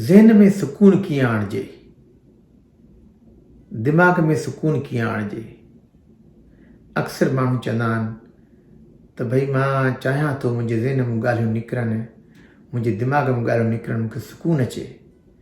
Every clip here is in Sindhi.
ذهن ۾ سڪون ڪيئن آڻجي؟ دماغ ۾ سڪون ڪيئن آڻجي؟ اڪثر ماڻهو چوندا آهن ته ڀئي مان چاهيان ٿو منهنجي ذهن ۾ ڳالهيون نڪرن منهنجي دماغ ۾ ڳالهيون نڪرن مون کي سڪون اچي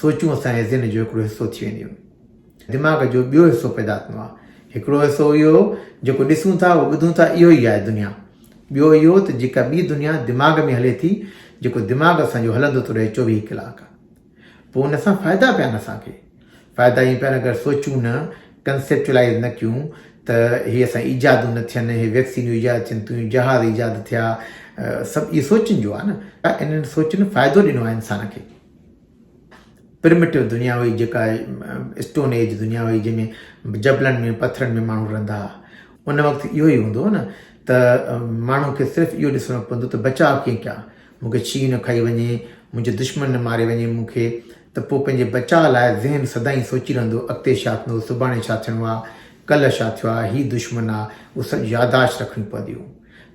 سوچون اسان جي ذھن جو ھڪڙو حصو ٿي وينديون. دماغ جو ٻيو حصو پيدا ٿيندو آھي. ھڪڙو حصو اھو جيڪو ڏسون ٿا ۽ ٻڌون ٿا اھو ئي آھي دنيا. ٻيو اھو ته جيڪا ٻي دنيا دماغ ۾ ھلي ٿي جيڪو دماغ اسان جو ھلندو ٿو رھي چوويھھ ڪلاڪ. پوء ان سان فائدا پيا آھن اسان کي. فائدا ائين پيا آھن اگر سوچون نه، Conceptualize نه ڪيون ته ھي اسان جي ايجادون نه ٿين، ھي ويڪسينيون ايجاد ٿين ٿيون، جھاز ايجاد ٿيا، سڀ اھي سوچن جو آھي نه. انھن سوچن فائدو ڏنو آھي انسان کي. پرمٽيو دنيا هئي جيڪا اسٽون ايج دنيا هئي جنهن ۾ جبلن ۾ پٿرن ۾ ماڻهو رهندا هئا ان وقت اهو ئي هوندو هو نه ته ماڻهو کي صرف اهو ڏسڻو پوندو ته بچاء ڪيئن ڪيان مون کي شينهن نه کائي وڃي منهنجو دشمن نه ماري وڃي مون کي ته پوء پنهنجي بچاء لاء ذهن سدائين سوچي رهندو اڳتي ڇا ٿيندو سڀاڻي ڇا ٿيڻو آهي ڪلهه ڇا ٿيو آهي هي دشمن آهي اهو سڀ ياداشت رکڻيون پونديون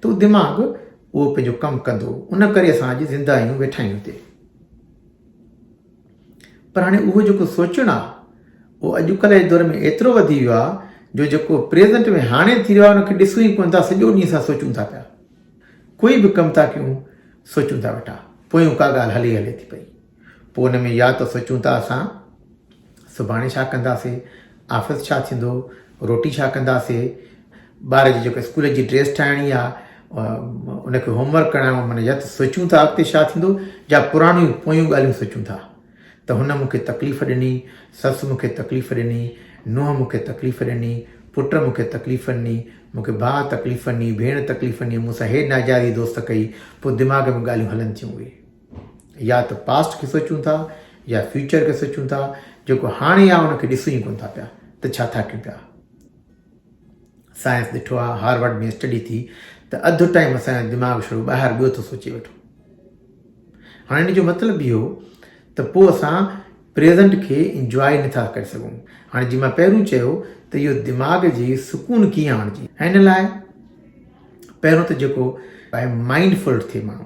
ته دماغ اهو پنهنجو ڪم ڪندو ان ڪري اسان اڄ زنده آهيون ويٺا آهيون هتي پر هاڻي اهو جيڪو سوچڻ آهي اهو اڄڪلهه جي دور ۾ ايترو وڌي ويو آهي جو جيڪو پريزنٽ ۾ هاڻي ٿي رهيو آهي ان کي ڏسون ئي ڪونه ٿا سڄو ڏينهن اسان سوچون ٿا پيا ڪوئي به ڪم ٿا ڪيون سوچون ٿا ويٺا پويون ڪا ڳالهه هلي هلي ٿي پئي پوء ان ۾ يا ته سوچون ٿا اسان سڀاڻي ڇا ڪنداسي، آفيس ڇا ٿيندو، روٽي ڇا ڪنداسي، ٻار جي جيڪا اسڪول جي ڊريس ٺاهڻي آ، ان کي هوم ورڪ ڪرائڻو آ، معنيٰ يا ته سوچون ٿا اڳتي ڇا ٿيندو يا پراڻيون پويون ڳالهيون سوچون ٿا ته هن مون کي تڪليف ڏني، سس مون کي تڪليف ڏني، نونهن مون کي تڪليف ڏني، پٽ مون کي تڪليف ڏني، مون کي ڀاء تڪليف ڏني، ڀيڻ تڪليف ڏني، مون سان هي ناجائز هي دوست ڪئي، پوء دماغ ۾ ڳالهيون هلن ٿيون اهي. يا ته پاسٽ کي سوچون ٿا يا فيوچر کي سوچون ٿا جيڪو هاڻي آهي ان کي ڏسون ئي ڪون ٿا پيا ته ڇا ٿا ڪيون پيا سائنس ڏٺو آ هارورڊ ۾ اسٽڊي ٿي ته اڌ ٽائم اسان دماغ شروع ٻاهر ٻيو ٿو سوچي ويٺو هاڻي ان جو مطلب اهو ته پوء اسان پريزنٽ کي انجواء نٿا ڪري سگھون هاڻي جي مان پهريون چيو ته اهو دماغ جي سڪون ڪيئن آڻجي هن لاء پهريون ته جيڪو مائنڊ فل ٿئي ماڻهو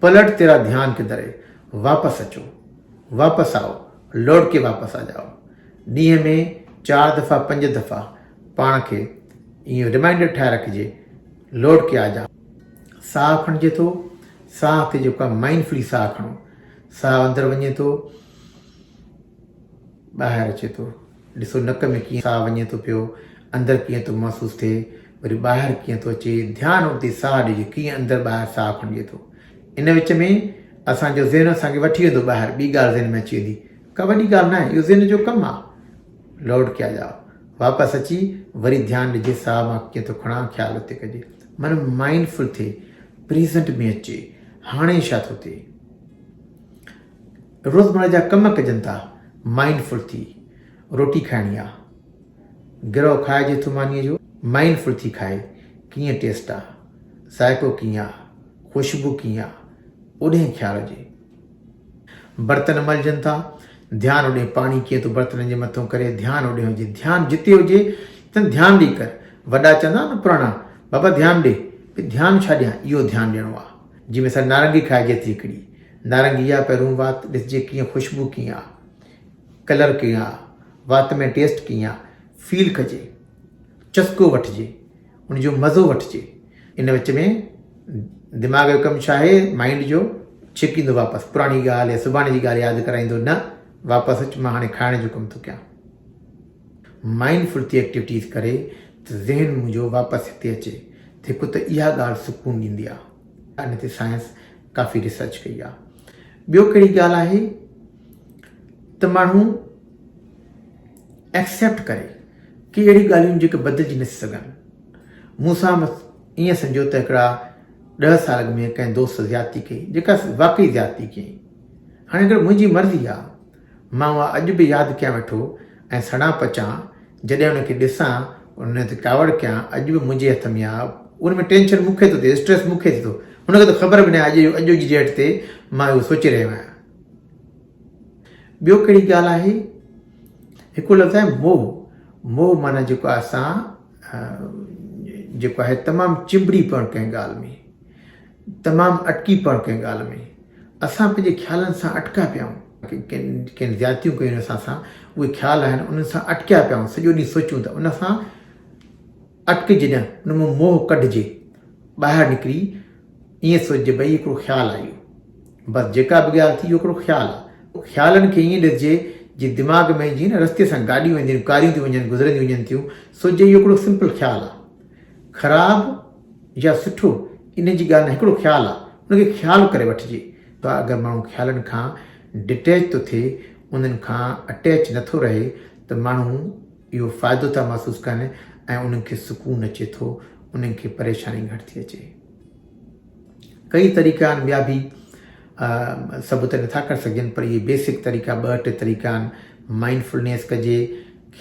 پلٽ تيرا ڌيان ڪدھر ھي، واپس اچو، واپس آئو، لوٽ ڪي واپس آ جائو. ڏينھن ۾ چار دفعا پنج دفعا پاڻ کي اھو رمائينڊر ٺاھي رکجي، لوٽ ڪي آ جا. ساھ کڻجي ٿو، ساھ کي جيڪو آھي مائنڊ فلي ساھ کڻو، ساھ اندر وڃي ٿو، ٻاھر اچي ٿو. ڏسو نڪ ۾ ڪيئن ساهه وڃي ٿو پيو، اندر ڪيئن ٿو محسوس ٿئي، وري ٻاهر ڪيئن ٿو اچي، ڌيان اتي ساهه ڏجي ڪيئن اندر ٻاهر ساهه کڻجي ٿو. ان وچ ۾ اسان جو ذهن اسان کي وٺي ويندو ٻاهر ٻي ڳالهه ذهن ۾ اچي ويندي، ڪا وڏي ڳالهه ناهي اهو ذهن جو ڪم آ. لوٽ ڪي آ جاء. واپس اچي وري ڌيان ڏجي ساهه مان ڪيئن ٿو کڻان خيال اتي ڪجي. من مائنڊ فل ٿئي، پريزنٽ ۾ اچي، هاڻي ڇا ٿو ٿئي. روزمره جا ڪم ڪجن ٿا مائنڊ فل ٿي روٽي کائڻي آ گرهو کائجي ٿو مانيء جو مائنڊ فل ٿي کائي ڪيئن ٽيسٽ آ ذائقو ڪيئن آ خوشبو ڪيئن آ اوڏهين خيال هجي برتن ملجن ٿا ڌيان اوڏي پاڻي ڪيئن ٿو برتنن جي مٿو ڪري ڌيان اوڏي هجي ڌيان جتي هجي تن ڌيان ڏي ڪر وڏا چوندا نه پراڻا بابا ڌيان ڏي ڌيان ڇا ڏيان اهو ڌيان ڏيڻو آ جنهن ۾ سر نارنگي کائجي ٿي هڪڙي نارنگي يا پهرون وات ڏسجي ڪيئن خوشبو ڪيئن آ ڪلر ڪيئن آ وات ۾ ٽيسٽ ڪيئن آ فيل ڪجي چسڪو وٺجي ان جو مزو وٺجي ان وچ ۾ دماغ جو ڪم ڇا آهي مائنڊ جو ڇڪيندو واپس پراڻي ڳالهه يا سڀاڻي جي ڳالهه ياد ڪرائيندو نه واپس اچ مان هاڻي کائڻ جو ڪم ٿو ڪيان مائنڊ فل ٿي ايڪٽيوٽيز ڪري ته ذهن منهنجو واپس هتي اچي هڪ ته اها ڳالهه سڪون ڏيندي آ ان تي سائنس ڪافي ريسرچ ڪئي آ ٻيو ڪهڙي ڳالهه آهي ته ماڻهو ايڪسيپٽ ڪري ڪي اهڙي ڳالهيون جيڪي بدلجي نٿي سگهن مون سان ائين سمجهو ته هڪڙا ڏهه سال اڳ ۾ ڪنهن دوست زيادتي ڪئي جيڪا واقعي زيادتي ڪيائين هاڻي اگر منهنجي مرضي آ مان اها اڄ به ياد ڪيان ويٺو ۽ سڙان پچان جڏهن ان کي ڏسان ان تي ڪاوڙ ڪيان اڄ به منهنجي هٿ ۾ آهي ان ۾ ٽينشن مون کي ٿو ٿئي اسٽريس مون کي ٿي ٿو ان کي ته خبر به نه آهي اڄ اڄ جي ڊيٽ تي مان اهو سوچي رهيو آهيان ٻيو ڪهڙي ڳالهه آهي هڪ لفظ آهي موه موه معنی جيڪو اسان جيڪو آهي تمام چنبڙي پوڻ ڪنهن ڳالهه ۾ تمام اٽڪي پڙ ڪنهن ڳالهه ۾. اسان پنهنجي خيالن سان اٽڪا پيا آهيون. ڪن ڪن زيادتيون ڪيون آهن اسان سان. اهي خيال آهن انهن سان اٽڪيا پيا آهيون. سڄو ڏينهن سوچيون ته ان سان اٽڪي جي نه ان مان موهه ڪڍجي. ٻاهر نڪري ائين سوچجي ڀئي هڪڙو خيال آهي اهو. بس جيڪا به ڳالهه ٿي اهو هڪڙو خيال آهي. خيالن کي ائين ڏسجي جي دماغ ۾ جيئن نه رستي سان گاڏيون وينديون آهن ڪاريون ٿيون وڃن گذرنديون وڃن ٿيون سوچجي اهو هڪڙو سمپل خيال آهي. خراب يا سٺو ان جي ڳالهه نه هڪڙو خيال آ ان کي خيال ڪري وٺجي ته اگر ماڻهو خيالن کان ڊٽيچ ٿو ٿئي انهن کان اٽيچ نه ٿو رهي ته ماڻهو اهو فائدو ٿا محسوس ڪن ۽ انهن کي سڪون اچي ٿو انهن کي پريشاني گهٽ ٿي اچي. ڪيئي طريقا آهن ٻيا به سڀ ته نٿا ڪري سگهجن پر اهي بيسڪ طريقا ٻه ٽي طريقا آهن مائنڊ فلنيس ڪجي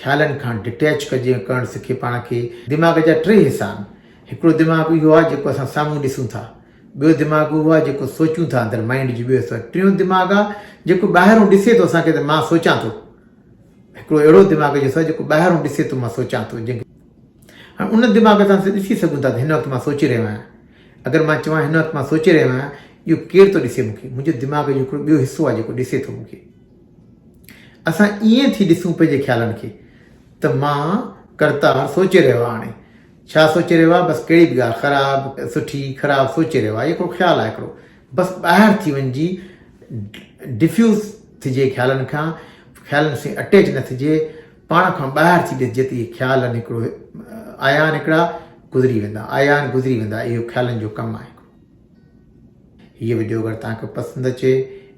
خيالن کان ڊٽيچ ڪجي ڪرڻ سکي پاڻ کي دماغ جا ٽي حصا آهن هڪڙو دماغ اهو آهي جيڪو اسان سامهون ڏسون ٿا ٻيو دماغ اهو آهي جيڪو سوچون ٿا اندر مائنڊ جي ٻيو حصو ٽيون دماغ آهي جيڪو ٻاهرون ڏسي ٿو اسان کي ته مان سوچان ٿو هڪڙو اهڙو دماغ جو حصو آهي جيڪو ٻاهرون ڏسي ٿو مان سوچان ٿو جنهن کي هاڻي ان دماغ سان اسين ڏسي سگهون ٿا ته هن وقت مان سوچي رهيو آهيان اگر مان چوان هن وقت مان سوچي رهيو آهيان اهو ڪير ٿو ڏسي مون کي منهنجو دماغ جو هڪڙو ٻيو حصو آهي جيڪو ڏسي ٿو مون کي اسان ائين ٿي ڏسون پنهنجي خيالن کي ته مان ڪرتار سوچي رهيو آهي هاڻي ڇا سوچي رهيو آهي بس ڪهڙي به ڳالهه خراب سٺي خراب سوچي رهيو آهي هڪڙو خيال آهي هڪڙو بس ٻاهر ٿي وڃجي ڊفيوز ٿجي خيالن کان خيالن سان اٽيچ نه ٿجي پاڻ کان ٻاهر ٿيندي جت اهي خيال نڪڙو عيان هڪڙا گذري ويندا عيان گذري ويندا اهو خيالن جو ڪم آهي هيء ويڊيو اگر توهان کي پسند اچي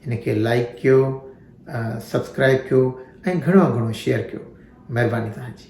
ان کي لائڪ ڪيو سبسڪرائب ڪيو ۽ گهڻو گهڻو شيئر ڪيو مهرباني توهان جي